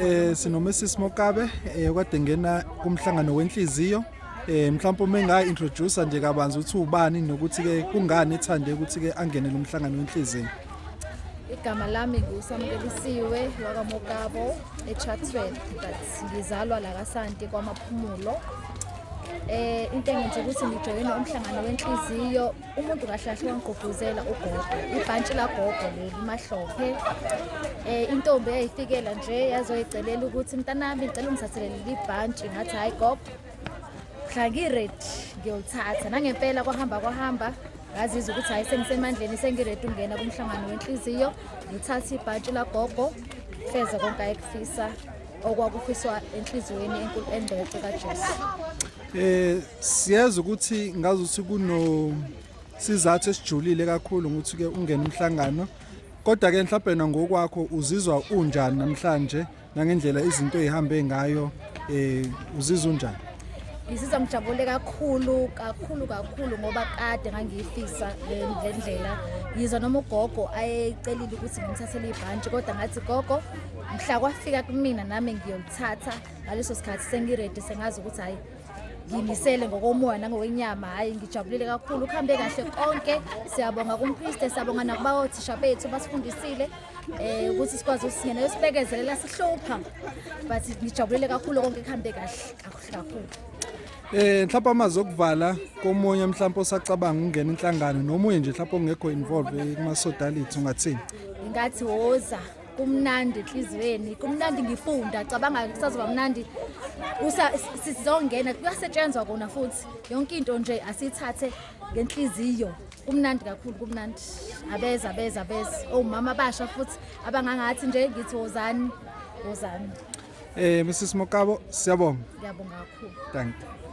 Eh sinoMrs Mokabe eh kade ngena kumhlangano wenhliziyo eh mhlawumbe uma enga introduce nje kabanzi ukuthi ubani nokuthi ke kungani ethande ukuthi ke angene lo mhlangano wenhliziyo Igama lami nguSamkelisiwe wakaMokabo eChatsworth but ngizalwa la kaSanti kwaMaphumulo. Eh into engenza ukuthi ngijoyine umhlangano wenhliziyo umuntu kahlahle wangigqugquzela ugogo ibhantshi lagogo leli mahlophe eh intombi eyayifikela nje yazoyicelela ukuthi mntanami ngicela ungithathele leli bhantshi ngathi hayi gogo mhla ngired ngiyolithatha nangempela kwahamba kwahamba ngazizwa ukuthi hhayi sengisemandleni sengiredi ungena kumhlangano wenhliziyo ngithathe ibhantshi lagogo feze konke ayekufisa okwakufiswa enhliziyweni enkulu engcwele kaJesu eh siyazi ukuthi ngazi ukuthi kuno sizathu esijulile kakhulu ukuthi ke ungena umhlangano kodwa ke mhlawumbe nangokwakho uzizwa unjani namhlanje nangendlela izinto ezihambe ngayo eh uzizwa unjani ngizizwa ngijabule kakhulu kakhulu kakhulu ngoba kade ngangiyifisa le ndlela yizwa noma ugogo ayecelile ukuthi ngimthathele ibhantshi kodwa ngathi gogo mhla kwafika kumina nami ngiyolithatha ngaleso sikhathi sengiredi sengazi ukuthi hhayi ngimisele ngokomoya nangokwenyama hhayi ngijabulile kakhulu kuhambe kahle konke siyabonga kumpriste siyabonga nakuba othisha bethu basifundisile um ukuthi sikwazi ukuthi singena yosibekezelela sihlupha but ngijabulile kakhulu konke kuhambe kahle kakuhle kakhulu Eh mhlawumbe amazi okuvala komunye mhlawumbe osacabanga ukungena inhlangano nomunye nje mhlawumbe ongekho involved eh, kuma sodality ungathini? Ngathi woza kumnandi enhliziyweni kumnandi ngifunda cabanga kusazoba mnandi sizongena kuyasetshenzwa kona futhi yonke into nje asithathe ngenhliziyo kumnandi kakhulu kumnandi abeza abeza abeza omama oh, abasha futhi abangangathi nje ngithi wozani wozani eh Mrs Mokabo siyabonga ngiyabonga kakhulu thank you